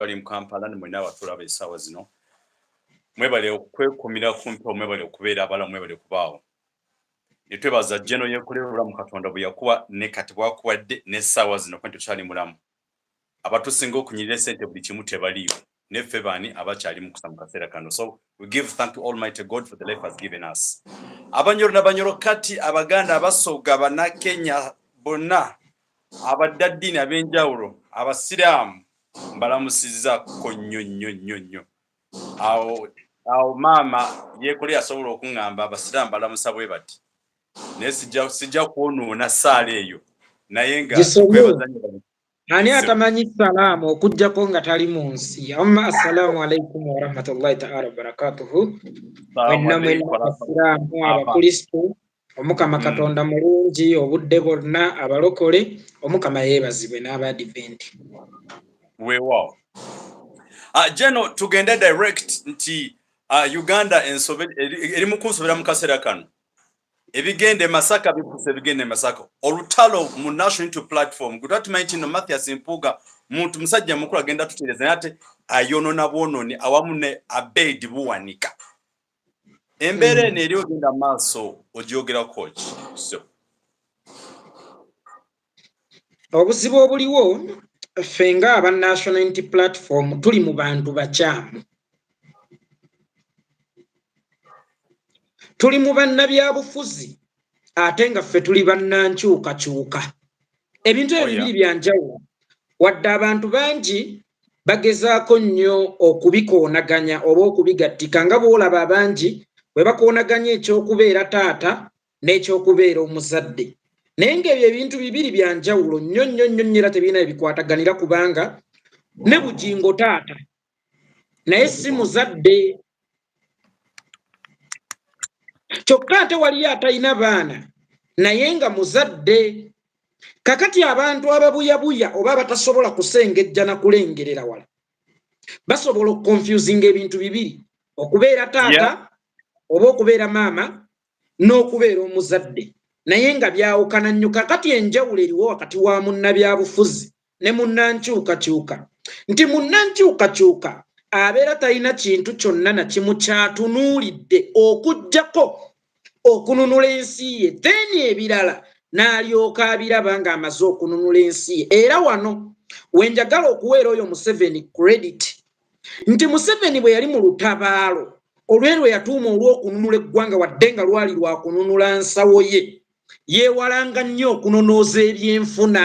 bali mu kampala ne mwena abatulaba esaawa zino mwebale okwekumira kumpi omwebale okubeera abala mwebale kubaawo netwebaza jeno yekolera obulamu katonda bwe yakuwa ne kati bwakuwadde n'essaawa zino kuba tetukyali mulamu abatusinga okunyirira esente buli kimu tebaliyo neffe baani abakyali mukusa mu kaseera kano so we give thank to almighty god for the life has given us abanyoro nabanyoro kati abaganda abasoga banakenya bonna abaddaddiini ab'enjawulo abasiraamu mbalamusizza ko nnyo nnyo nnyo nnyo awo awo maama yeekole yasobola okuŋŋamba abasiraamu balamusa bwe bati naye sijja kwonoona saala eyo naye nga ani atamanyi salaamu okugjako nga tali mu nsi amma assalaamu alaikum warahmatullahi taala wabarakatuhu mwenna mwenna abasiraamu abakristu omukama mm. katonda mulungi obudde bonna abalokole omukama yeebazibwe n'abaadiventi weewaawo ah, geno tugende direct nti ah, uganda eri mu kunsobera mu kaseera kano ebigenda emasaka bikusa ebigenda emasaka olutalo mu national into platform gwe twatumanyi kino mathias mpuuga muntu musajja mukulu agenda tutereeza naye ate ayonona bwononi awamu ne abeidi buwanika embeera eno eri ogenda maaso ogyogerako ki obuzibu obuliwo ffe nga aba national unity platform tuli mu bantu bakyamu tuli mu bannabyabufuzi ate nga ffe tuli bannankyukakyuka ebintu ebyo oh, bibiri byanjawulo wadde abantu bangi bagezaako nnyo okubikoonaganya oba okubigattika nga bw'olaba abangi bwe bakoonaganya eky'okubeera taata n'eky'okubeera omuzadde naye ng'ebyo ebintu bibiri bya njawulo nnyo nnyo nnyo nnyo era tebirina bye bikwataganira kubanga ne bugingo taata naye si muzadde kyokka ate waliyo atalina baana naye nga muzadde kakati abantu ababuyabuya oba abatasobola kusengejja na kulengerera wala basobola okukonfusinga ebintu bibiri okubeera taata oba okubeera maama n'okubeera omuzadde naye nga byawukana nnyo kakati enjawulo eriwo wakati wa munnabyabufuzi ne munnankyukakyuka nti munnankyukakyuka abeera talina kintu kyonna na kimu kyatunuulidde okugyako okununula ensi ye then ebirala n'alyoka abiraba ng'amaze okununula ensi ye era wano wenjagala okuweera oyo museveni credit nti museveni bwe yali mu lutabaalo olweri lwe yatuuma olw'okununula eggwanga wadde nga lwali lwakununula nsawo ye yeewalanga nnyo okunonooza ebyenfuna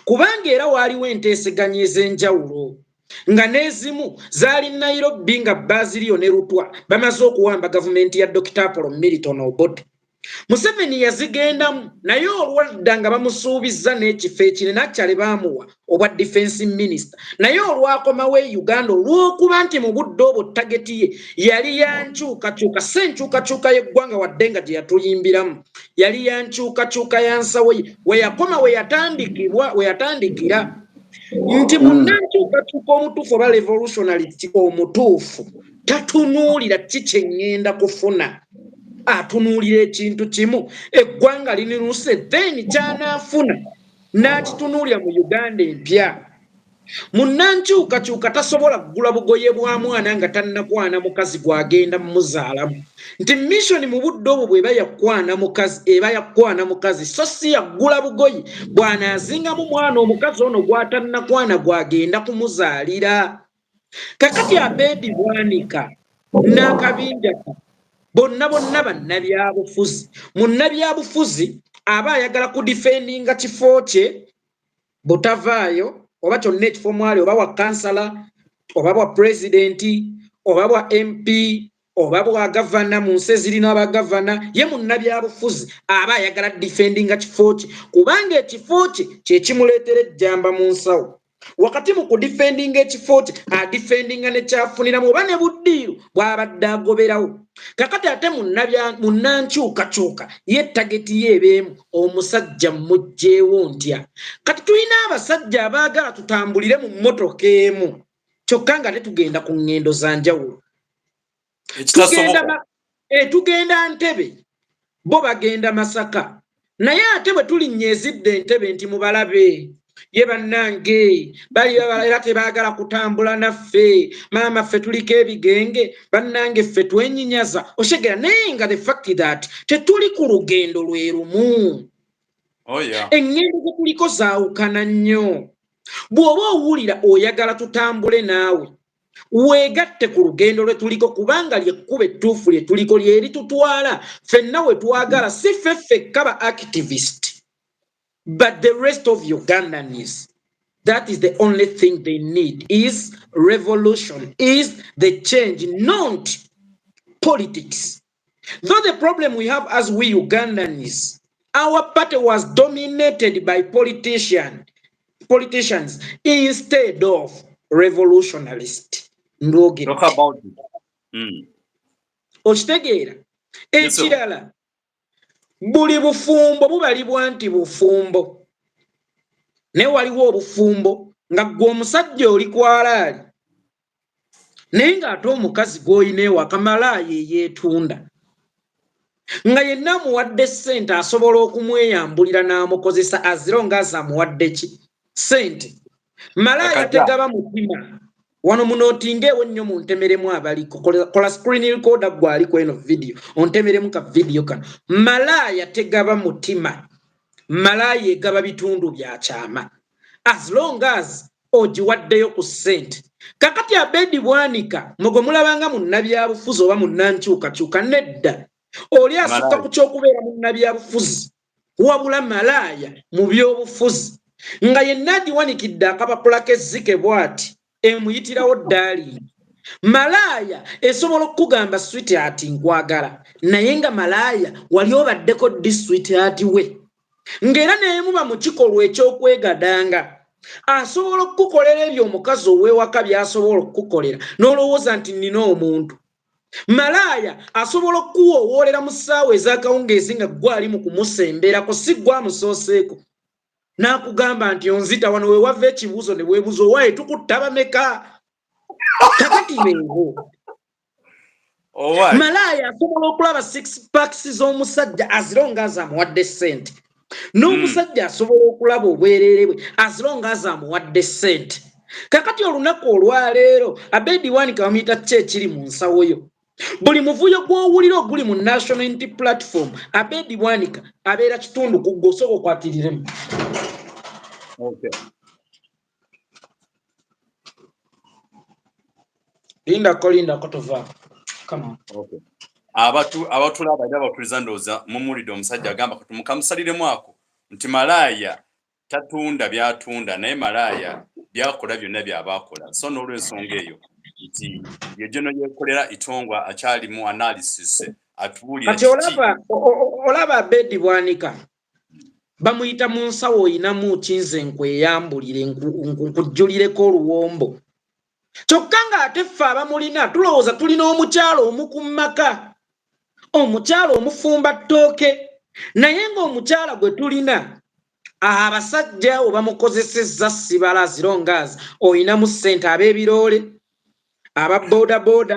kubanga era waaliwo enteeseganya ez'enjawulo nga n'ezimu zaali nairobi nga baaziriyo ne lutwa bamaze okuwamba gavumenti ya dokita apolo milton obote museveni yazigendamu naye olwadda nga bamusuubizza n'ekifo ekinene akyale baamuwa obwa defense minister naye olwakomawo e uganda olw'okuba nti mu budde obwo tageti ye yali yankyukakyuka si enkyukakyuka y'eggwanga wadde nga gye yatuyimbiramu yali yankyukakyuka ya nsawo ye we yakoma we yatandikibwa we yatandikira nti munankyukakyuka omutuufu oba revolutionality omutuufu tatunuulira ki kye ŋŋenda kufuna atunuulira ekintu kimu eggwanga liniruuse then kyanaafuna n'akitunuulira mu uganda empya munnankyukakyuka tasobola kugula bugoye bwa mwana nga tannakwana mukazi gw'agenda mumuzaalamu nti missoni mu budde obwo bweba yakwana mukazi eba yakwana mukazi so si yaggula bugoye bw'anaazingamu mwana omukazi ono gw'atannakwana gw'agenda kumuzaalira kakati abedi bwanika n'akabinjaka bonna bonna bannabyabufuzi munnabyabufuzi aba ayagala kudifendinga kifo kye butavaayo oba kyonna ekifo mwali oba wa kansala oba bwa pulezidenti oba bwa mp oba bwagavana mu nsi ezirina abagavana ye munnabyabufuzi aba ayagala difendinga kifo kye kubanga ekifo kye kyekimuleetera ejjamba mu nsawo wakati mu kudifendinga ekifo kye adifendinga nekyafuniramu oba ne buddiiru bwabadde agoberawo kakati ate munnankyukakyuka ye tageti ye ebeemu omusajja mmugjeewo ntya kati tulina abasajja abaagala tutambulire mu mmotoka emu kyokka nga tetugenda ku ŋŋendo za njawulo eh, tugenda ntebe bo bagenda masaka naye ate bwe tulinnya ezidde entebe nti mubalabe ye bannange bali era tebaagala kutambula naffe maama ffe tuliko ebigenge bannange ffe twenyinyaza oshegera naye nga the fact that tetuli ku lugendo lwe lumu oh, eŋŋendo ze tuliko zaawukana nnyo bw'oba owulira oyagala tutambule naawe weegatte ku lugendo lwe tuliko kubanga lyekkuba ettuufu lye tuliko lyeri tutwala fenna we twagala si ffe ffekka ba activist but the rest of ugandanis that is the only thing they need is revolution is the change not politics Though the problem we have as we Ugandans, our party was dominated by politician, politicians instead of revolutionalists. Talk about it. Mm. Okitegeera ekirala buli bufumbo bubalibwa nti bufumbo naye waliwo obufumbo nga gwe omusajja oli kwalaali naye ng'ate omukazi gw'olina ewaka malaaya eyeetunda nga yenna amuwadde ssente asobola okumweyambulira n'amukozesa aziro ngaazi amuwadde ki ssente malaaya tegaba mutima wano munootinga ewo nnyo muntemeremu abaliko kola screen recorder gwe ali kweno vidiyo ontemeremu ka vidiyo kano malaaya tegaba mutima malaaya egaba bitundu bya kyama as long as ogiwaddeyo ku ssente kakati abedi bwanika mwegwe mulabanga munnabyabufuzi oba munnankyukakyuka nedda oli asukka ku kyokubeera munnabyabufuzi wabula malaaya mu byobufuzi nga yenna agiwanikidde akapapula kezzike bwati emuyitirawo ddaaliini malaaya esobola okukugamba switi ati nkwagala naye nga malaaya wali obaddeko ddi switi ati we ng'era neemuba mu kikolwa eky'okwegadanga asobola okukukolera ebyo omukazi ow'ewaka by'asobola okukukolera n'olowooza nti nnina omuntu malaaya asobola okukuwoowoolera mu ssaawa ez'akawungeezi nga gwali mu kumusemberako si gw'amusooseeko n'akugamba nti onzita wano we wava ekibuuzo ne weebuuza owaaye tukuttaba meka kakati mengo malaaya asobola okulaba six packs z'omusajja azironga azamuwadde sente n'omusajja hmm. asobola okulaba obwerere bwe azironga azamuwadde sente kakati olunaku olwaleero abedi wanika bamuyita ki ekiri mu nsawo yo buli muvuyo gw'owulira oguli mu national int platform abedi wanika abeera kitundu ku gwe osooka okwakiriremu linda ko linda ko tova come on okay abatu abatula abada abakuliza ndoza mumulide omusajja agamba kati mukamusaliremu ako nti malaaya tatunda byatunda naye malaaya byakola byonna byabaakola so n'olwensonga eyo nti yegeno yekolera itongwa akyali mu analysis atuwulira kati olaba olaba bedi bwanika bamuyita mu nsawo oyinamu ki nze nkweyambulire nkujjulireko oluwombo kyokka ng'ate ffe abamulina tulowooza tulina omukyalo omu ku maka omukyalo omufumba ttooke naye ng'omukyala gwe tulina abasajja abo bamukozesezza sibala zirongaz oyinamu ssente ab'ebiroole aba bodaboda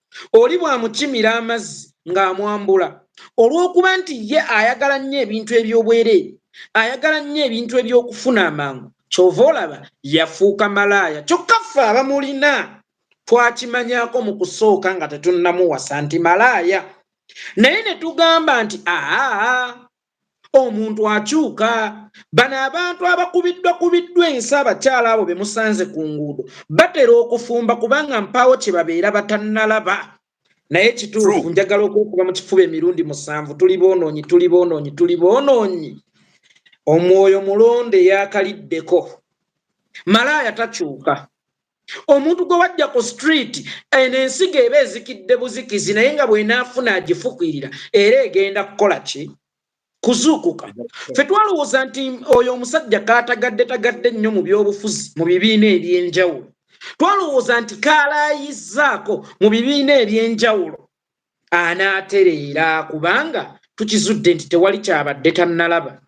oli bw'amukimira amazzi ng'amwambula olw'okuba nti ye ayagala nnyo ebintu eby'obwereere ayagala nnyo ebintu eby'okufuna amangu kyova olaba yafuuka malaaya kyokka ffe abamulina twakimanyako mu kusooka nga tetunnamuwasa nti malaaya naye ne tugamba nti aa omuntu akyuka bano abantu abakubiddwa kubiddwa ensi abakyala abo be musanze ku nguudo batera okufumba kubanga mpaawo kye babeera batannalaba naye kituufu njagala okwekuba mu kifuba emirundi musanvu tuli boonoonyi tuli boonoonyi tuli boonoonyi omwoyo mulonde yakaliddeko malaaya takyuka omuntu gwe wajja ku street eno ensigo eba ezikidde buzikizi naye nga bwenaafuna agifukwirira era egenda kukola ki kuzuukuka fe twalowooza nti oyo omusajja kaatagadde tagadde nnyo mu byobufuzi mu bibiina eby'enjawulo twalowooza nti kaalaayizzaako mu bibiina eby'enjawulo anaatereera kubanga tukizudde nti tewali kyabadde tannalaba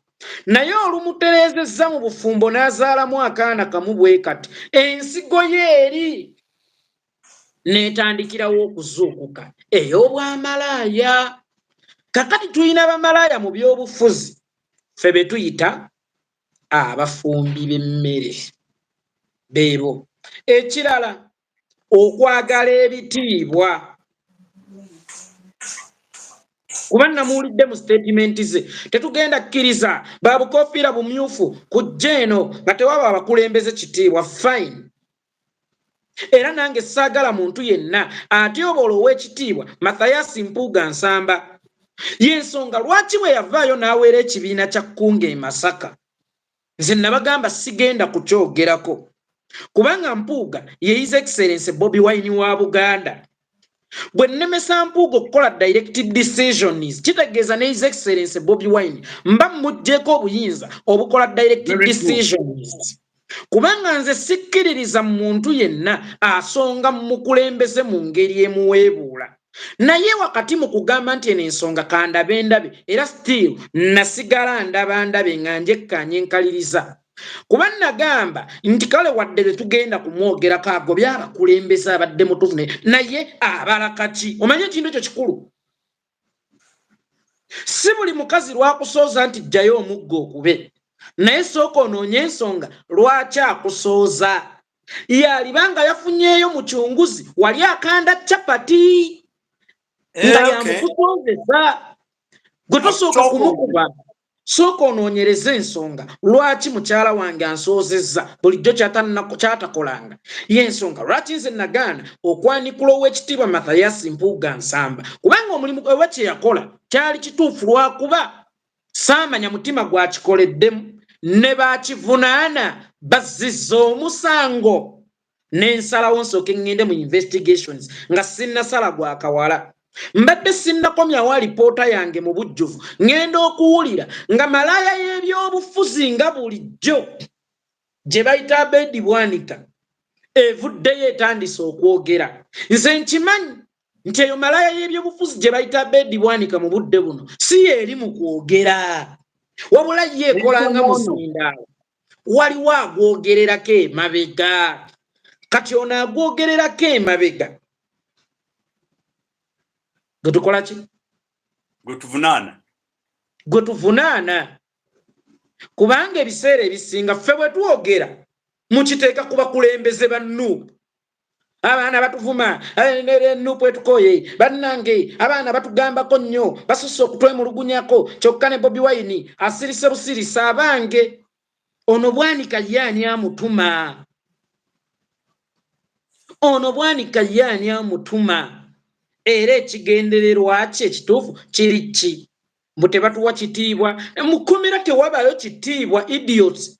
naye olumutereezezza mu bufumbo n'azaalamu akaana kamu bwe kati ensigo ye eri n'etandikirawo okuzuukuka ey'obwamalaaya kakati tulina bamalaaya mu by'obufuzi ffe be tuyita abafumbi b'emmere beebo ekirala okwagala ebitiibwa kuba namuwulidde mu sitatimenti ze tetugenda kkiriza babukofiira bumyufu kujja eno nga tewaba abakulembeze kitiibwa fine era nange saagala muntu yenna atyoboola ow'ekitiibwa mathayasi mpuuga nsamba y'ensonga lwaki bwe yavaayo n'aweera ekibiina kya kkunga e masaka nze nabagamba sigenda kukyogerako kubanga mpuuga ye his excellence bobi wine wa buganda bwe nnemesa mpuuga okukola direct decisions kitegeeza ne his excellence bobi wine mba mmugyeko obuyinza obukola direct decisions kubanga nze sikkiririza mu muntu yenna asonga mu mukulembeze mu ngeri emuweebuula naye wakati mu kugamba nti eno ensonga kandabe ndabe era still nasigala ndaba ndabe nga njekkanye nkaliriza kuba nagamba nti kale wadde tetugenda kumwogerako ago byabakulembeza abadde mutufu naye abala kaki omanye ekintu ekyo kikulu si buli mukazi lwakusooza nti jjayo omugga okube naye sooka onoonye ensonga lwaki akusooza yalibanga yafunyeyo mu kyunguzi wali akanda capati eh, nga yamukukozesa gwe tosooka kumukuba sooka onoonyereza ensonga lwaki mukyala wange ansoozezza bulijjo kyatakolanga yensonga lwaki nze nagaana okwanikula ow'ekitiibwa mathayasi mpuuga nsamba kubanga omulimu oba kye yakola kyali kituufu lwakuba saamanya mutima gwakikoleddemu ne baakivunaana bazziza omusango n'ensalawo nsooke ŋŋende mu investigations nga sinnasala gwa kawala mbadde sinnakomyawo alipoota yange mu bujjuvu ŋŋenda okuwulira nga malaaya y'ebyobufuzi nga bulijjo gye bayita abeedi bwanika evuddeyo etandise okwogera nze nkimanyi nti eyo malaya y'ebyobufuzi gye bayita abedi bwanika mu budde buno si yeeri mu kwogera wabula ye ekolanga muzindaalo waliwo agwogererako emabega kati ono agwogererako emabega gwe tukola ki gwe tuvunaana gwe tuvunaana kubanga ebiseera ebisinga ffe bwe twogera mukiteeka ku bakulembeze ba nuupu abaana batuvuma eh, nerenupu etukoye bannange abaana batugambako nnyo basusse okutwemulugunyako kyokka ne bobi wayini asirise busirisa abange ono bwanika ye ani amutuma ono bwanika ye ani amutuma era ekigendererwa kye ekituufu kiri ki mbu tebatuwa kitiibwa mu kkomera tewabayo kitiibwa idiots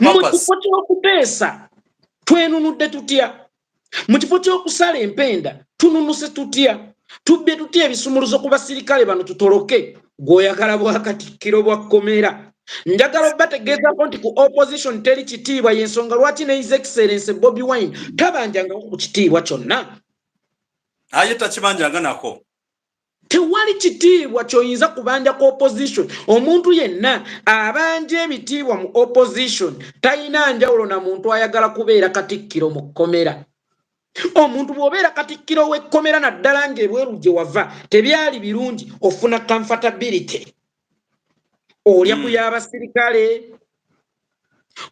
mu kifo ky'okuteesa twenunudde tutya mu kifo ky'okusala empenda tununuse tutya tubbye tutya ebisumuluzo ku basirikale bano tutoloke gweoyagala bwakatikkiro bwa kkomera njagala obategeezako nti ku opposition teri kitiibwa yensonga lwaki ne his excellence bobi wine tabanjangako ku kitiibwa kyonna aye takibanjanganako tewali kitiibwa kyoyinza kubanja ku opposition omuntu yenna abanja ebitiibwa mu opposition talina njawulo na muntu ayagala kubeera katikkiro mu kkomera omuntu bw'obeera katikkiro w'ekkomera naddala ng'ebweru gye wava tebyali birungi ofuna comfortability olya ku mm. y'abasirikale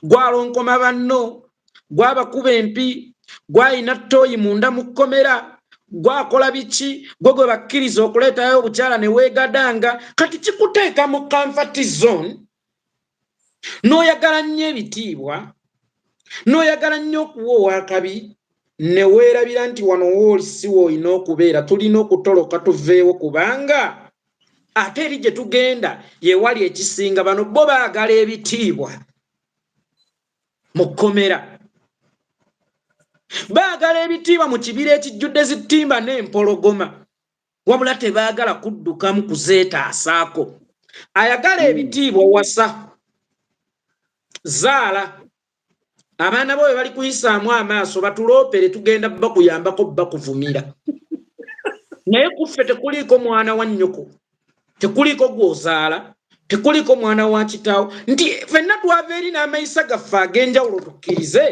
gwalonkoma banno gwabakuba empi gwalina toyi munda mu kkomera gwakola biki gwe gwe bakkiriza okuleetayo obukyala ne weegadanga kati kikuteeka mu kanfati zone n'oyagala nnyo ebitiibwa n'oyagala nnyo okuwa owakabi ne weerabira nti wano woolisiwo olina okubeera tulina okutoloka tuveewo kubanga ate eri gye tugenda yewali ekisinga bano bo baagala ebitiibwa mu kkomera baagala ebitiibwa mu kibira ekijjudde zitimba n'empologoma wabula tebaagala kuddukamu kuzeetaasaako ayagala ebitiibwa wasa zaala abaana boyo bali kuyisaamu amaaso batuloopere tugenda bakuyambako bakuvumira naye kuffe tekuliiko mwana wa nnyoko tekuliiko gwozaala tekuliiko mwana wa kitaawo nti fenna twava eri n'amayisa gaffe ag'enjawulo tukkirize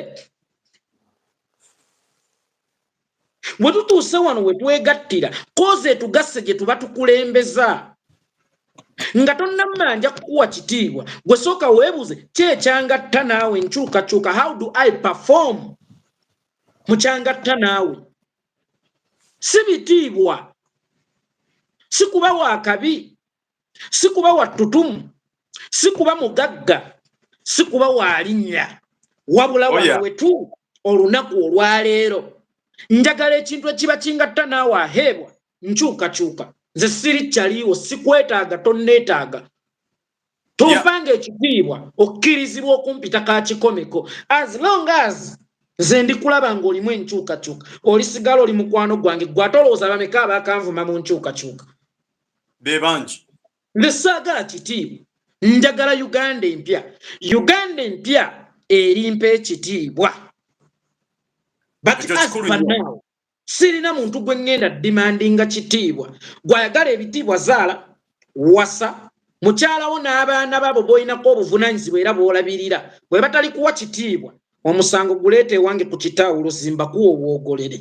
we tutuuse wano we twegattira kozi etugasse gye tuba tukulembeza nga tonnamala nja kukuwa kitiibwa gwe sooka weebuze kyekyangatta naawe nkyukakyuka how do i perform mukyangatta naawe si bitiibwa si kuba wa kabi si kuba wattutumu si kuba mugagga si kuba waalinnya wabula oh, wano wetu olunaku olwaleero njagala ekintu ekiba kingatta naawe aheebwa nkyukakyuka nze siri kyaliiwo sikwetaaga tonneetaaga tovanga ekitiibwa okkirizibwa okumpita ka kikomeko as long as nze ndikulaba ng'olimu enkyukakyuka olisigala oli mukwano gwange gwe ate olowooza bameka abaakanvuma mu nkyukakyuka bebangi nze saagala kitiibwa njagala uganda empya uganda empya erimpa ekitiibwa sirina muntu gwe ŋŋenda dimandinga kitiibwa gwayagala ebitiibwa zaala wasa mukyalawo n'abaana babo bolinako obuvunanyizibwa era bwolabirira bwe batali kuwa kitiibwa omusango guleeta ewange ku kitaawo luzimba kuwa obwogolere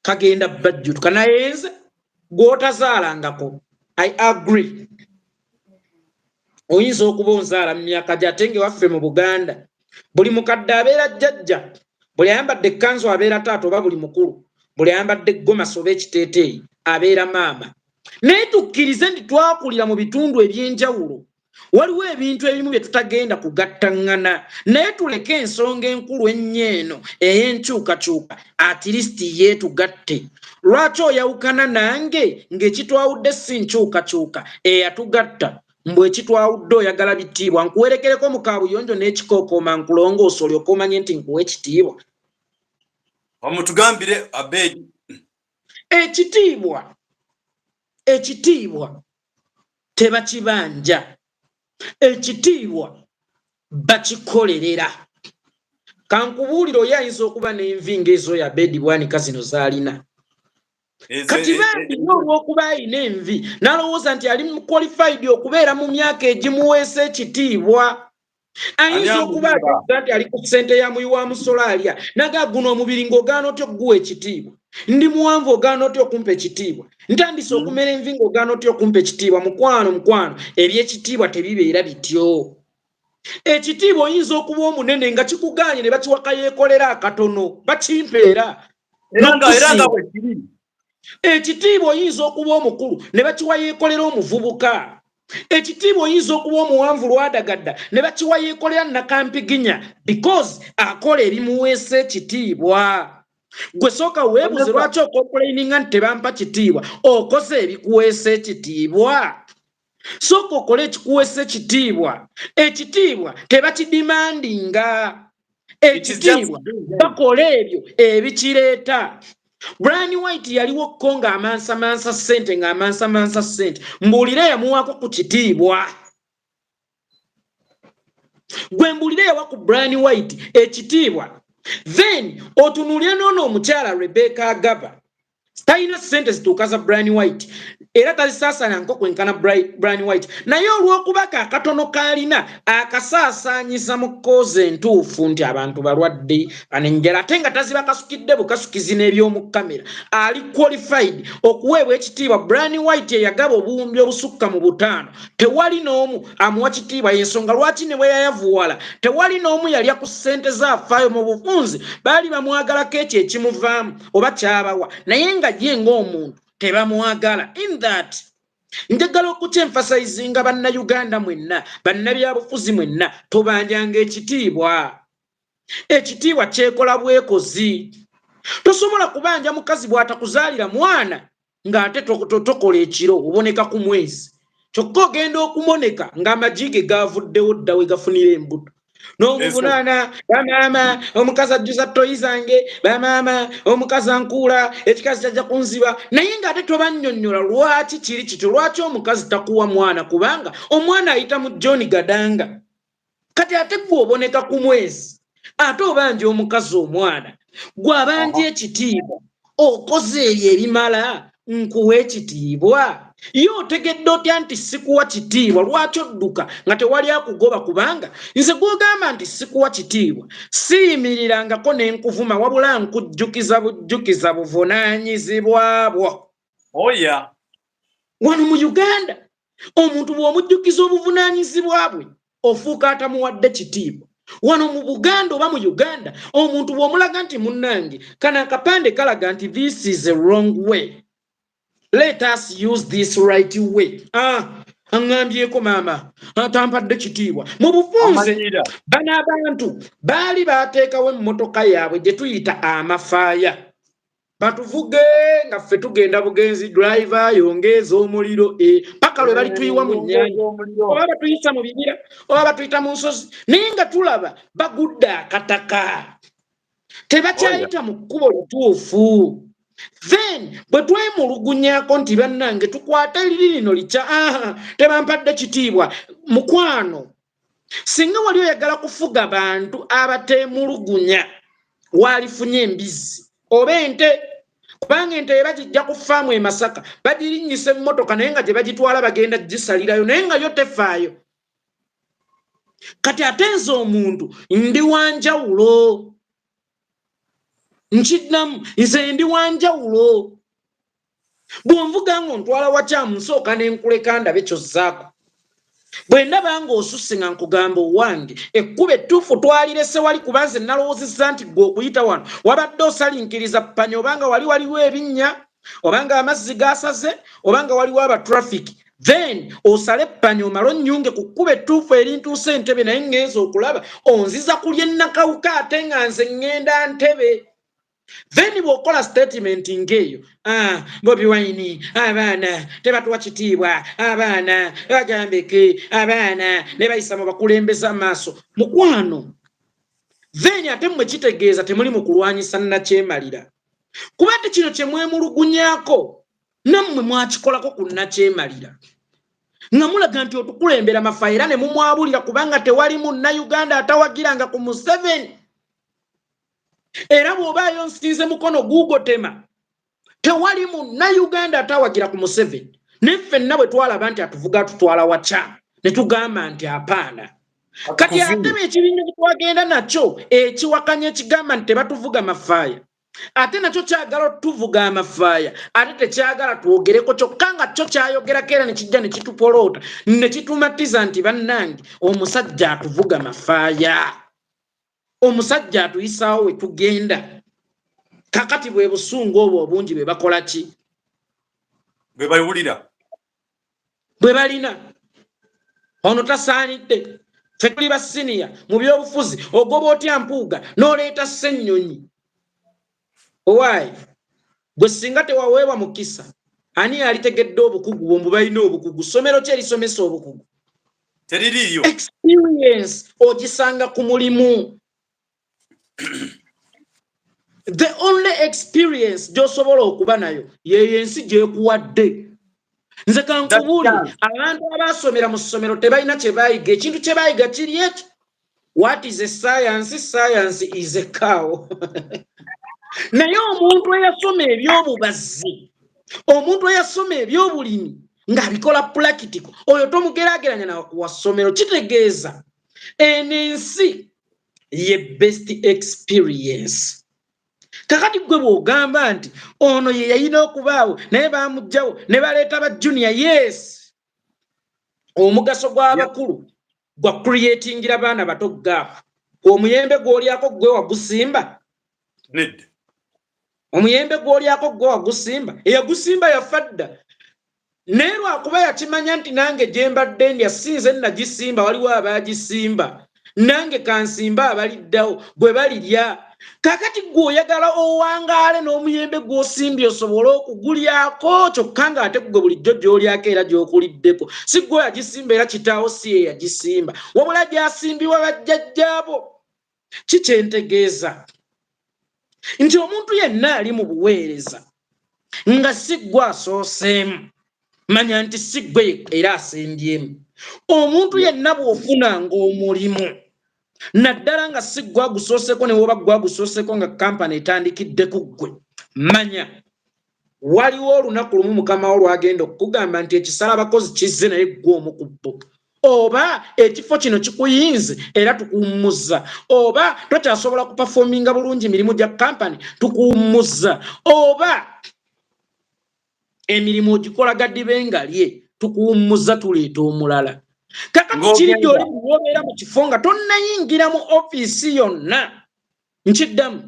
kagenda bajjutuka naye nze gwotazaalangako i agree oyinza okuba onzaala mu myaka gye ate ngewaffe mu buganda buli mukadde abeera jjajja buli ayambadde ekkanzu abeera taata oba buli mukulu buli ayambadde gomasi oba ekiteeteeyi abeera maama naye tukkirize nti twakulira mu bitundu eby'enjawulo waliwo ebintu ebimu bye tutagenda kugattaŋŋana naye tuleke ensonga enkulu ennyo eno ey'enkyukakyuka atirisiti yeetugatte lwaki oyawukana nange ng'ekitwawudde si nkyukakyuka eyatugatta mbu ekitwawudde oyagala bitiibwa nkuwerekereko mu kaabuyonjo n'ekikookooma nkulongoosa olyoka omanye nti nkuwa ekitiibwa omutugambire abeedi ekitiibwa ekitiibwa tebakibanja ekitiibwa bakikolerera kankubuulire oyo ayinza okuba n'envi ngaezo ya bedi bwanika zino zaalina kati bambiyo olwokuba alina envi nalowooza nti ali muqualified okubeera mu myaka egimuweesa ekitiibwa ayinza okuba ategeza nti ali ku ssente ya muyi wa musolo alya naga guno omubiri ng'ogaana otya okuguwa ekitiibwa ndi muwanvu ogaana otya okumpa ekitiibwa ntandise mm. okumera envi ng'ogaana otya okumpa ekitiibwa mukwano mukwano ebyekitiibwa tebibeera bityo ekitiibwa oyinza okuba omunene nga kikugaanye ne bakiwaka yeekolera akatono bakimpeera era nga bwekiri ekitiibwa oyinza okuba omukulu ne bakiwa yeekolera omuvubuka ekitiibwa oyinza okuba omuwanvu lwadagadda ne bakiwa yeekolera nakampiginya because akola ebimuweesa ekitiibwa gwe sooka weebuze lwaki okompulaininga nti tebampa kitiibwa okoze ebikuweesa ekitiibwa sooka okole ekikuweesa ekitiibwa ekitiibwa tebakidimandinga ekitiibwa bakola ebyo ebikireeta brani white yaliwo ko ng'amansamansa ssente ng'amansamansa ssente mbuulira yamuwaako ku kitiibwa gwe mbuulira yawa ku brani white ekitiibwa then otunuulira noono omukyala rebeka agaba talina sente zituuka za brian white era tazisaasana nko kwenkana brian white naye olw'okuba ka katono kaalina akasaasaanyiza mu koozi entuufu nti abantu balwadde anenjala ate nga taziba kasukidde bukasukizi n'eby'omu kamera ali qualified okuweebwa ekitiibwa brian white eyagaba obuwumbi obusukka mu butaano tewali n'omu amuwa kitiibwa y'ensonga lwaki ne bwe yayavuwala tewali n'omu yalya ku sente zaafaayo mu bufunzi baali bamwagalako ekyo ekimuvaamu oba kyabawa naye nga ye ngaomuntu tebamwagala in that njagala okukya emfasayizinga bannayuganda mwenna bannabyabufuzi mwenna tubanjanga ekitiibwa ekitiibwa kyekola bwekozi tosobola kubanja mukazi bwatakuzaalira mwana ng'ate tokola ekiro oboneka ku mwezi kyokka ogenda okumoneka ng'amagi ge gaavuddewo dda we gafunira embuto n'omuvunaana bamaama omukazi ajjuza toyi zange bamaama omukazi ankuula ekikazi kyajja kunziba naye ng'ate tobannyonnyola lwaki kiri kityo lwaki omukazi takuwa mwana kubanga omwana ayita mu john gadanga kati ate gwoboneka ku mwezi ate obanja omukazi omwana gwabanja ekitiibwa okoze ebyo ebimala nkuwa ekitiibwa ye otegedde otya nti sikuwa kitiibwa lwaki odduka nga tewali akugoba kubanga nze gwogamba nti sikuwa kitiibwa siyimirirangako nenkuvuma wabula nkujjukiza bujjukiza buvunaanyizibwa bwo oya oh, wano mu uganda omuntu bw'omujjukiza obuvunaanyizibwa bwe ofuuka atamuwadde kitiibwa wano mu buganda oba mu uganda omuntu bw'omulaga nti munnange kano akapande kalaga nti this is a wrong way let us use this right way ah, aŋŋambyeko maama atampadde kitiibwa mu bufunze bano abantu baali baateekawo emmotoka yaabwe gye tuyita amafaaya batuvuge nga ffe tugenda bugenzi driver yongeeza omuliro e, paka lwe balituyiwa mu nyanja oba batuyisa mu bibira oba batuyita mu nsozi naye nga tulaba bagudde akataka tebakyayita mu kkubo lituufu then bwe twemulugunyako nti bannange tukwate liri lino likya aha tebampadde kitiibwa mukwano singa wali oyagala kufuga bantu abateemulugunya waalifunye embizzi oba ente kubanga ente ye bagijja ku faamu e masaka bagirinnyisa emmotoka naye nga gye bagitwala bagenda gisalirayo naye nga yo tefaayo kati ate nze omuntu ndi wanjawulo nkiddamu nze ndi wanjawulo bwonvuga nga ontwala wakyamu nsooka nenkuleka ndabe kyozzaako bwe ndaba nga osusse nga nkugamba owange ekkuba ettuufu twalirese wali kuba nze nalowoozezza nti gwe okuyita wano wabadde osalinkiriza panya obanga wali waliwo ebinnya obanga amazzi gasaze obanga waliwo abatrafiki then osale panyo malo nyunge kukuba etuufu erintuusa entebe naye ngenza okulaba onziza kulya ennakawuka ate nga nze ŋŋenda ntebe then bwokola statement ngeeyo ah, bobi wine abaana tebatuwa kitiibwa abaana bagambeke abaana nebayisa mu bakulembeza maaso mukwano then ate mwe kitegeeza temuli mu kulwanyisa nakyemalira kuba ti kino kyemwemulugunyako nammwe mwakikolako ku nakyemalira nga mulaga nti otukulembera mafa era ne mumwabulira kubanga tewali munnauganda atawagiranga ku museveni era bw'obaayo nsinze mukono guugotema tewali munnayuganda atawagira ku museveni ne ffenna bwe twalaba nti atuvuga atutwala waca ne tugamba nti apaana kati ate beekibinja kyetwagenda nakyo ekiwakanya ekigamba nti tebatuvuga mafaaya ate nakyo kyagala otuvuga amafaaya ate tekyagala twogereko kyokka nga kyo kyayogerako era nekijja nekitupoloota nekitumatiza nti bannange omusajja atuvuga mafaaya omusajja atuyisaawo we tugenda kakati bwe busungu obwo obungi bwe bakola ki bwe bawulira bwe balina ono tasaanidde fe tuli basiniya mu byobufuzi ogoba otya mpuuga n'oleeta ssennyonyi owaayi gwe singa tewaweebwa mukisa ani yalitegedde obukugu bwombu balina obukugu ssomero ki erisomesa obukugu teririiyo experience ogisanga ku mulimu the only experience gyosobola okuba nayo yeyo ensi gyekuwadde nze kankubuuli abantu abaasomera mu ssomero tebalina kyebayiga ekintu kyebayiga kiri ekyo what is a science science is a cow naye omuntu eyasoma ebyobubazzi omuntu eyasoma ebyobulimi ng'abikola pulakitiko oyo tomugerageranya nawassomero kitegeeza eno ensi ye best experience kakati gwe bwogamba nti ono ye yayina okubaawo naye bamugjawo ne baleeta ba junior yes omugaso gw'abakulu yeah. gwa creatingira baana bato gaafu omuyembe gw'olyako ggwe wagusimba nedda omuyembe gw'olyako ggwe wagusimba eyagusimba yafa dda naye lwakuba yakimanya nti nange gye mbadde ndya sinze nagisimba waliwo abaagisimba nange kansimba abaliddawo bwe balirya kakati gwe oyagala owangaale n'omuyembe gw'osimbye osobole okugulyako kyokka ng'ate gwe bulijjo gy'olyako era gy'okuliddeko si gwe oyagisimba era kitaawo si ye yagisimba wabula gyasimbiwa bajjajjaabo ki kyentegeeza nti omuntu yenna ali mu buweereza nga si gwe asooseemu manya nti si gwe era asembyemu omuntu yenna bw'ofunanga omulimu naddala nga si gwagusooseko ne woba gwagusooseko nga kampani etandikidde ku ggwe manya waliwo olunaku lumu mukama wo lwagenda okukugamba nti ekisala abakozi kizze naye ggwe omu ku bbo oba ekifo kino kikuyinze era tukuwummuzza oba tokyasobola kupafominga bulungi mirimu gya kampani tukuwummuzza oba emirimu ogikola gadibe ngalye tukuwummuza tuleeta omulala kakati kiridde oli muwobeera mu kifo nga tonnayingira mu ofiisi yonna nkiddamu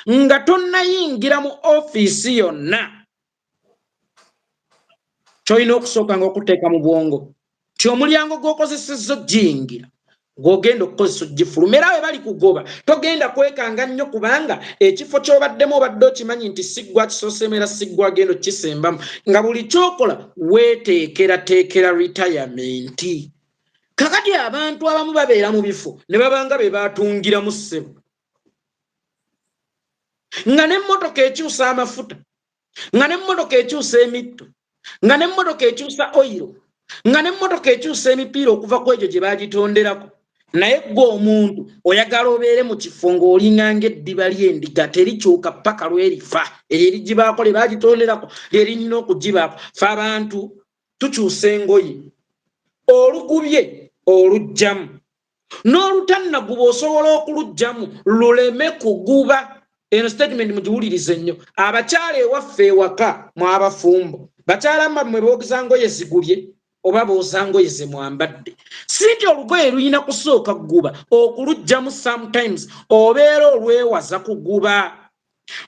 nga tonnayingira mu ofiisi yonna kyolina okusooka nga okuteeka mu bwongo ti omulyango gwokozeseza ojiyingira gwogenda okukozesa ogifuluma era we bali kugoba togenda kwekanga nnyo kubanga ekifo kyobaddemu obadde okimanyi nti siggwa kisoseemu era siggwa agenda okisembamu nga buli kyokola weteekerateekera retirementii kakati abantu abamu babeera mu bifo ne babanga be batungiramu ssebo nga n'emmotoka ekyusa amafuta nga n'emmotoka ekyusa emitto nga n'emmotoka ekyusa oyiro nga n'emmotoka ekyusa emipiira okuva ku egyo gye baagitonderako naye gwe omuntu oyagala obeere mu kifo ng'olinga ng'eddiba ly'endiga terikyuka ppaka lwerifa eryo erigibaako lye baagitonderako lyerinyina okugibaako fe abantu tukyusa engoye olugubye olugjamu n'olutannaguba osobola okulujjamu luleme kuguba eno statement mugiwulirize nnyo abakyala ewaffe ewaka mwabafumbo bakyala mbammwe boogeza ngoye zigubye oba booza ngoye ze mwambadde si nti olugoye lulina kusooka kuguba okulujjamu sometimes obeera olwewaza kuguba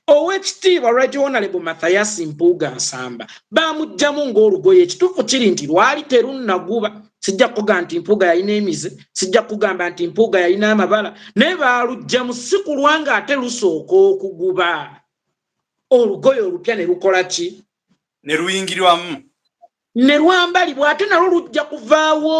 owekitiibwa right honorable mathayasi mpuuga nsamba bamugjamu ngaolugoye ekituufu kiri nti lwali terunnaguba sijja kugamba nti mpuuga yalina emize sijja kugamba nti mpuuga yalina amabala naye balugjamu si kulwa nga ate lusooka okuguba olugoye olupya ne lukola ki ne luyingirwamu ne lwambalibwa ate nalwo lujja kuvaawo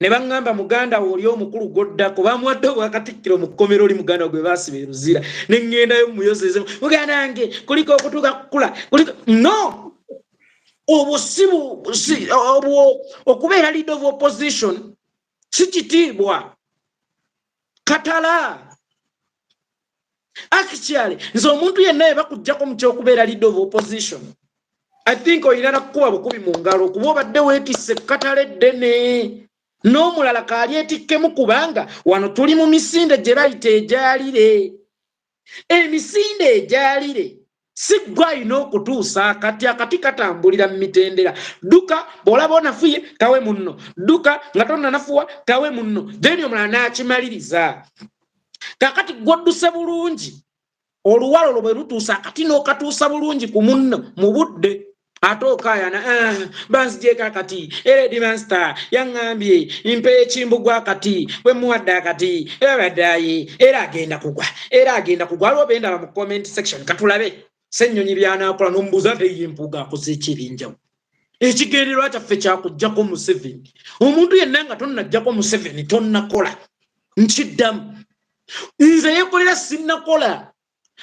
ne baŋŋamba muganda wo oli omukulu gw'oddako bamuwadde obwakatikkiro mu kkomero oli muganda gwe baasiba eruzira ne ŋŋendayo mumuyozeezemu muganda wange kuliko okutuuka kukula kuliko no obwo si obwo okubeera leader of opposition si kitiibwa katala Actually, nze omuntu yenna yeba kujjako mu kyokubeera leader of opposition. I think oyina nakukuba bukubi mu ngalo kuba obadde weetisse ekkatale ddene n'omulala kaali etikkemu kubanga wano tuli mu misinde gye bayita egyalire. Emisinde egyalire si gwe alina okutuusa akati akati katambulira mu mitendera dduka bw'olaba onafuye tawe munno dduka nga tonnanafuwa tawe munno then omulala n'akimaliriza kakati gwodduse bulungi oluwalo olwo bwe lutuusa akati n'okatuusa bulungi ku munno mu budde ate okayana ah, banzigyeko akati era edimansta yaŋŋambye mpa ekimbugwa akati bwe muwadde akati era badaaye era agenda kugwa era agenda kugwa aliwo bendaba mu comment section katulabe sennyonyi byanakola nomubuuza nti ye mpuuga akoze eki ebyenjawulo ekigendererwa kyaffe kyakujjako museveni omuntu yenna nga tonnajjako museveni tonnakola nkiddamu nze yekolera sinnakola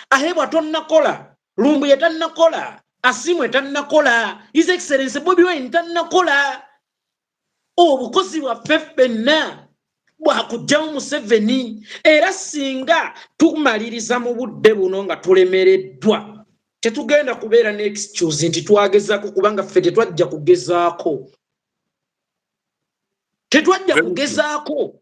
ahebwa tonnakola lumbuye tannakola asimwe tannakola his excellence bobi wine tannakola obukozi bwaffe ffenna bwakugyamu museveni era singa tumaliriza mu budde buno nga tulemereddwa tetugenda kubeera ne excuse nti twagezaako kubanga ffe tetwajja kugezaako tetwajja kugezaako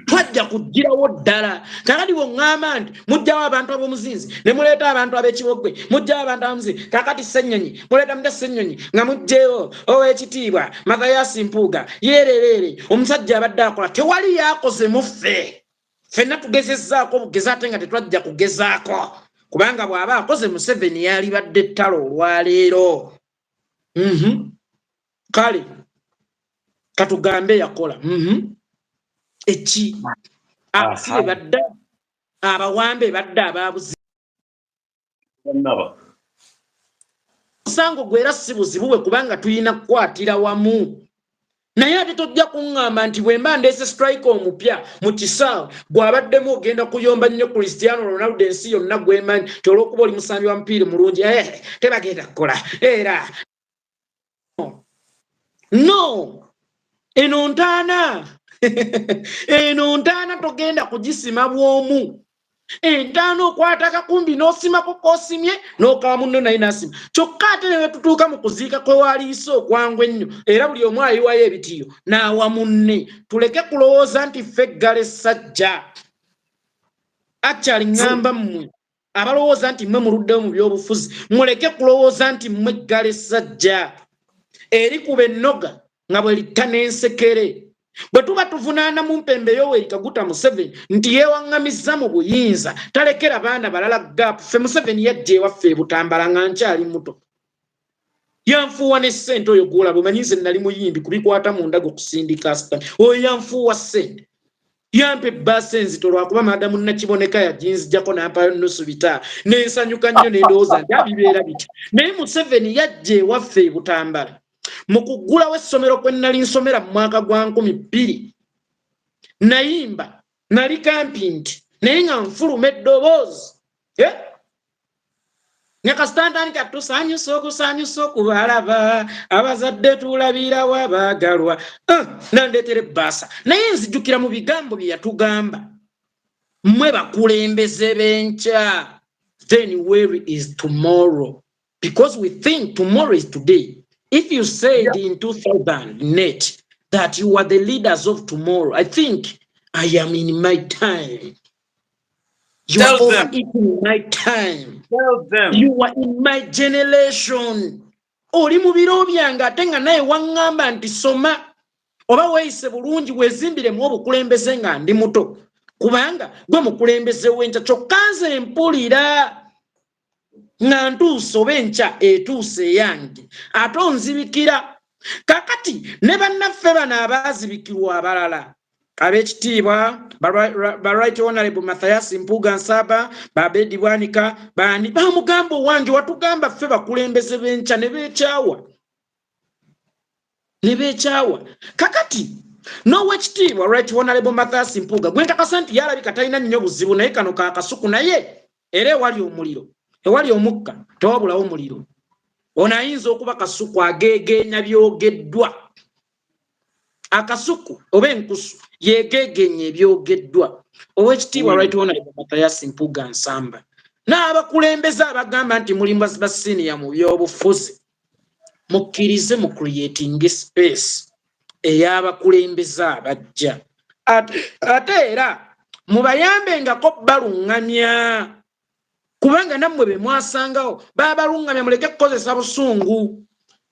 twajja kugirawo ddala kakati woŋŋamba nti mujjawo abantu ab'omuzinzi ne muleeta abantu ab'ekiboggwe mujjawo abantu ab'omuzinzi kakati ssennyonyi muleeta mutya ssennyonyi nga mujjeewo ow'ekitiibwa mathayaasi mpuuga yeerereere omusajja abadde akola tewali yaakoze mu ffe ffenna tugezezzaako obugezi ate nga tetwajja kugezaako kubanga bw'aba akoze museveni yaalibadde ettalo olwaleero mm -hmm. kale katugambe yakola mm -hmm. eki abasibe badda abawambe badda ababuzi musango gwera si buzibuwe kubanga tuyina kukwatira wamu naye ate tojja kuŋŋamba nti bwe mba ndeese strike omupya mu kisaawe gw'abaddemu ogenda kuyomba nnyo christiano ronaldo ensi yonna gwemanyi ti olw'okuba oli musambi wa mupiira mulungi e tebagenda kukola era no eno ntaana eno ntaana togenda kugisima bw'omu entaana okwata akakumbi n'osimako kosimye n'okawa munno naye nasima kyokka ate ne wetutuuka mu kuziika kwe waaliyise okwangu ennyo era buli omu ayiwayo ebitiyo n'awa munne tuleke kulowooza nti ffe eggala essajja akyali ŋŋamba mmwe abalowooza nti mmwe muluddewo mu byobufuzi muleke kulowooza nti mmwe eggala essajja eri ku bennoga nga bwelitta n'ensekere bwe tuba tuvunaana mu mpembe yoweri kaguta museveni nti yeewaŋŋamizza mu buyinza talekera baana balala gaapu ffe museveni yajja ewaffe ebutambala nga nkyali muto yanfuuwa ne ssente oyo gwolaba omanyi nze nali muyimbi kubikwata mu ndaga okusindika sita oyo yanfuuwa ssente yampa ebbaasa enzito lwakuba maadamu nakiboneka yaginzijako nampayo nusu bita nensanyuka nnyo nendowooza nti abibeera bityo naye museveni yajja ewaffe ebutambala mu kuggulawo essomero kwe nnali nsomera mu mwaka gwa nkumi bbiri nayimba nali kampi nti naye nga nfuluma eddoboozi eh? nyakasitantandika tusanyusa okusanyusa okubalaba abazadde tulabirawo abaagalwa eh, nandeetera ebbaasa naye nzijukira mu bigambo bye yatugamba mwe bakulembeze benkya then where is tomorrow because we think tomorrow is today if you said yeah. in 2000 net that you are the leaders of tomorrow i think i am in my time you Tell are them. in my time Tell them. you are in my generation oli mu biro byange ate nga naye waŋŋamba nti soma oba weeyise bulungi weezimbiremu obukulembeze nga ndi muto kubanga gwe mukulembeze w'enkya kyokka nze mpulira nga ntuuse oba enkya etuuse eyange ate onzibikira kakati ne bannaffe bano abaazibikirwa abalala ab'ekitiibwa baright honorable mathayas mpuuga nsaba babedi bwanika bani bamugamba owange watugamba ffe bakulembeze b'enkya ne beekyawa ne beekyawa kakati n'owekitiibwa right honalebo mathas mpuuga gwe nkakasa nti yalabika talina nnyo buzibu naye kano ka kasuku naye era ewali omuliro ewali omukka tewabulawo muliro ono ayinza okuba kasuku ageegeenya byogeddwa akasuku oba enkusu yegeegeenya ebyogeddwa owekitiibwa mm. right honalebo mathas mpuuga nsamba n'abakulembeze abagamba nti mulimu basiniya mu byobufuzi mukkirize mu creating space ey'abakulembeze abajja ate era mubayambengako baluŋŋamya kubanga nammwe be mwasangawo babaluŋŋamya muleke kukozesa busungu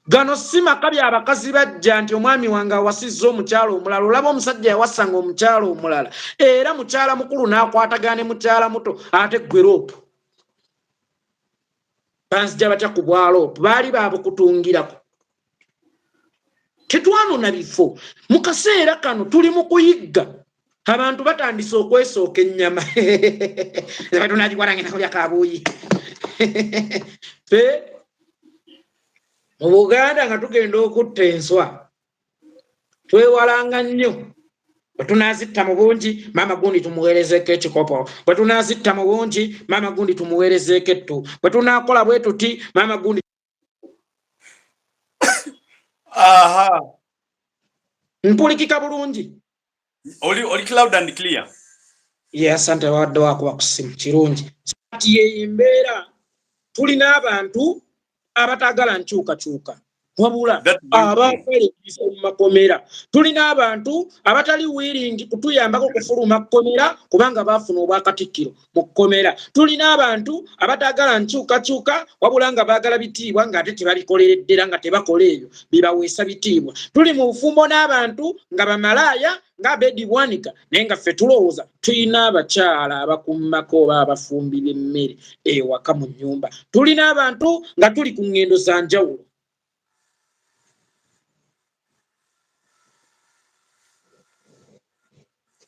gano si maka byabakazi bajja nti omwami wange awasizza omukyala omulala olaba omusajja yawasanga omukyala omulala era mukyala mukulu n'akwatagana ne mukyala muto ate gweroopu banzija batya ku bwalo baali babukutungirako tetwanona bifo mu kaseera kano tuli mu kuyigga abantu batandise okwesooka ennyama tunagikwalangenakulya kabuuyi fe mu buganda nga tugenda okutta enswa twewalanga nnyo bwe tunaazitta mu bungi maama gundi tumuweerezeeko ekikopo bwe tunaazitta mu bungi maama gundi tumuweerezeeko ettu bwe tunaakola bwe tuti maama gundi mpulikika bulungi Oli oli cloud and clear. Yeah, asante wadde wakuba ku simu kirungi. Kati yeyembeera tulina abantu abataagala nkyukakyuka wabula abaakale biso mu makomera tulina abantu abatali wiiringi kutuyambako kufuluma kkomera kubanga baafuna obwakatikkiro mu kkomera tulina abantu abataagala nkyukakyuka wabula nga baagala bitiibwa ng'ate tebabikolereddera nga tebakola ebyo bibaweesa bitiibwa tuli mu bufumbo n'abantu nga bamalaaya nga abedibwanika naye nga ffe tulowooza tulina abakyala abakummako oba abafumbi b'emmere ewaka mu nnyumba tulina abantu nga tuli ku ŋŋendo za njawulo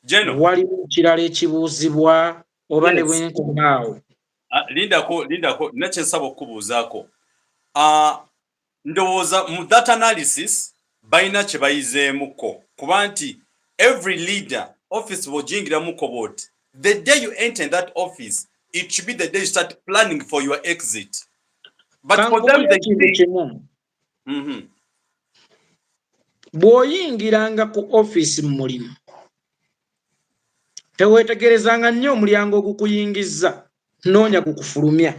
General. Waliwo ekirala ekibuuzibwa oba ne bwenkomaawo. Ah, lindako lindako nakye nsaba okukubuuzaako. Ah, ndowooza mu that analysis balina kye bayizeemukko kuba nti every leader office bw'ojingiramuko bw'oti the day you enter in that office it should be the day you start planning for your exit. mm-hmm. bw'oyingiranga ku ofiisi mu mulimu teweetegerezanga nnyo omulyango ogukuyingizza noonya gukufulumya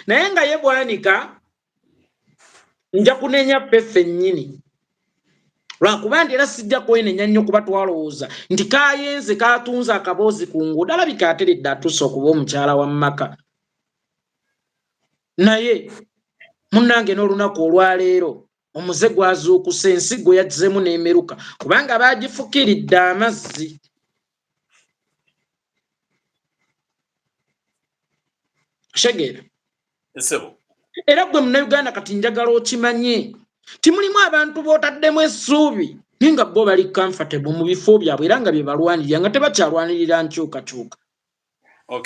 naye nga ye bwanika nja kunenya ffe ffennyini lwakuba nti era sijja kwenenya nnyo kuba twalowooza nti kayenze katunze akaboozi ku nguudo alabika ateredde atuuse okuba omukyala wa mumaka naye munnange n'olunaku olwaleero omuze gwazuukusa ensigo yazzemu n'emeruka kubanga baagifukiridde amazzi kitegeera era gwe munauganda kati njagala okimanye timulimu abantu botaddemu essuubi naye nga bo bali comfortable mu bifo byabwe era nga byebalwanirira nga tebakyalwanirira nkyukakyuka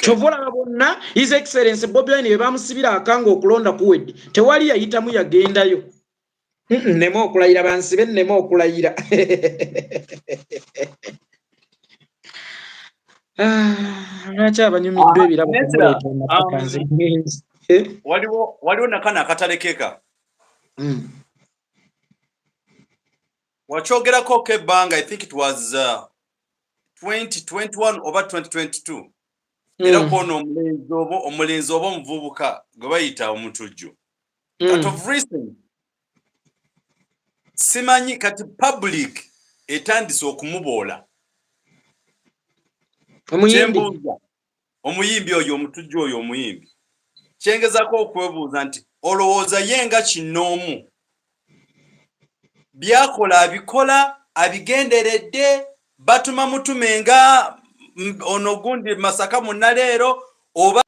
kyova olaba bonna his excellence bobi wine bebamusibira akanga okulonda kuwedde tewali yayitamu yagendayo nneme okulayira bansibe nneme okulayira ah, lwaki abanyumiddwa ebirabo waliwo nakana akatalekeka hmm. wakyogerako ko ebbanga i think it was uh, 2021 oba 2022 mm. era kwona omulenzi oba omulenzi oba omuvubuka gwe bayita omutujju mm. but of recent simanyi kati public etandise okumuboola omuyimbi oyo omutujju oyo omuyimbi kyengezako okwebuuza nti olowooza ye nga kinnoomu byakola abikola abigenderedde batuma mutume nga ono gundi masaka munaleero oba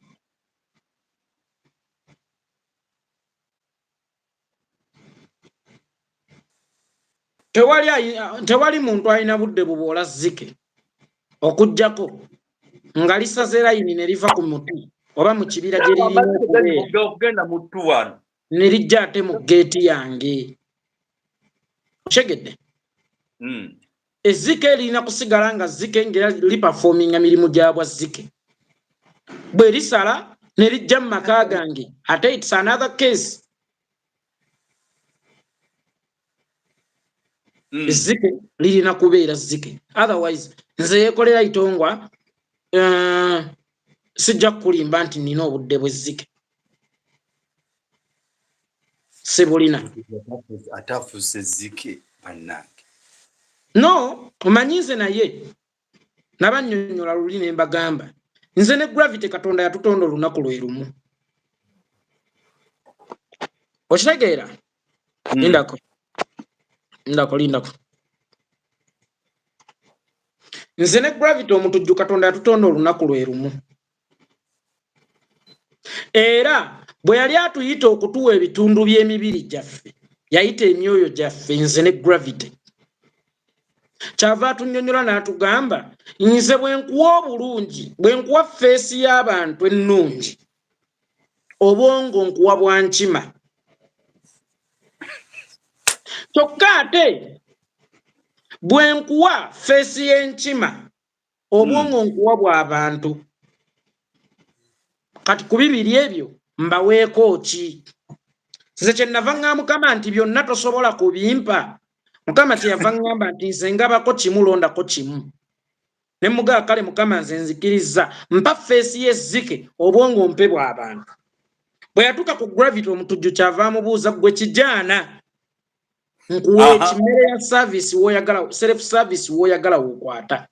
tewali tewali muntu alina budde bubwola zike okujjako nga lisaze layini ne liva ku muti oba mu kibira gye liriokugenda muttu wano ne lijja ate mu geeti yange okyegedde hmm. ezzike lirina kusigala nga zzike ngaera lipafominga mirimu gya bwa zzike bwe lisala ne lijja mu maka gange ate its another case hmm. ezzike mm. lirina kubeera zzike otherwise nze yekolera itongwa uh, sijja kukulimba nti nina obudde bwezzike sibulina atafuuse zike bannange no omanyi nze naye nabanyonyola luli ne mbagamba nze ne gravity katonda yatutonda olunaku lwe lumu okitegeera hmm. lindako lindako lindako nze ne gravity omutujju katonda yatutonda olunaku lwe lumu era bwe yali atuyita okutuwa ebitundu by'emibiri gyaffe yayita emyoyo gyaffe nze ne gravity kyava atunyonyola n'atugamba nze bwe nkuwa obulungi bwe nkuwa feesi y'abantu ennungi obwongo nkuwa bwankima kyokka ate bwe nkuwa feesi y'enkima obwongo hmm. nkuwa bwa bantu kati ku bibiri ebyo mbaweeko ki nze kyenava ŋa mukama nti byonna tosobola kubimpa mukama kyeyava ŋamba nti nze ngabako kimu londako kimu ne mugaa kale mukama nze nzikirizza mpa feesi yezzike obwongo mpe bw'abantu bwe yatuuka ku gravity omutujju kyava amubuuza gwe kijaana nkuwa ekimere ya service woyagala self service woyagala wokwata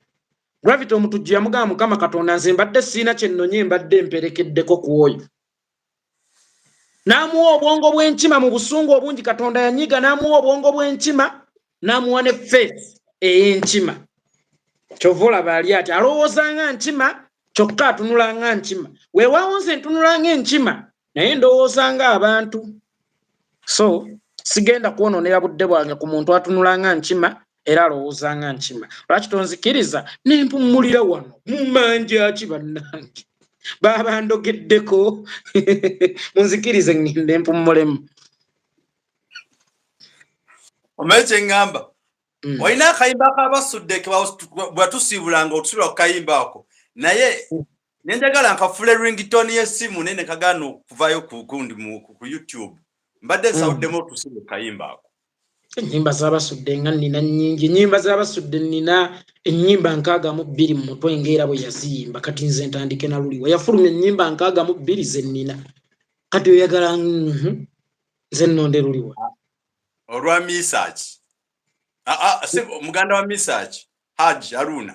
gravity omutujju yamugamba mukama katonda nze mbadde siina kyennonye mbadde mperekeddeko ku oyo n'amuwa obwongo bw'enkima mu busungu obungi katonda yanyiga n'amuwa obwongo bw'enkima n'amuwa ne faith ey'enkima kyova olaba ali ati alowooza nga nkima kyokka atunula nga nkima weewaawo nze ntunula nga enkima naye ndowooza nga abantu so sigenda kwononera budde bwange ku muntu atunula nga nkima era alowooza nga nkima lwaki tonzikiriza nempummulira wano mumanja ki bannange baaba ndogeddeko munzikirize ngende mpummulemu omanyi kyeŋŋamba mm. olina akayimba kabasudde bwatusiibulanga otusula ku kayimba ako naye mm. ne njagala nkafule ringtone y'essimu naye ne kagaana okuvaayo ku gundi ku youtube mbadde hmm. nsawuddemu otusiba okayimba ako ennyimba zabasudde nga nina nyingi ennyimba zabasudde nina ennyimba nkaaga mu bbiri mu mutwe ngaera bwe yaziyimba kati nze ntandike na luliwa yafulumya ennyimba nkaaga mu bbiri ze nina kati oyagala mhm, nze nnonde luliwa ah, olwa misaki ah, ah, muganda wa misaki haji aruna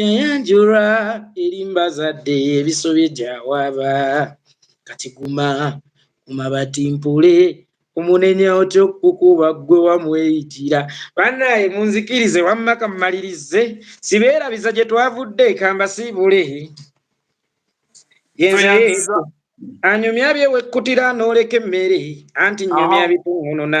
yayanjula erimba zadde ebisobye gyawaba kati guma kumabati mpule omunenya otya okukuba ggwe wamweyitira banaye munzikirize wamma kammalirize sibeerabiza gye twavudde kambasiibule yenze anyumya byewekkutira n'oleka emmere anti nyumya bitungununa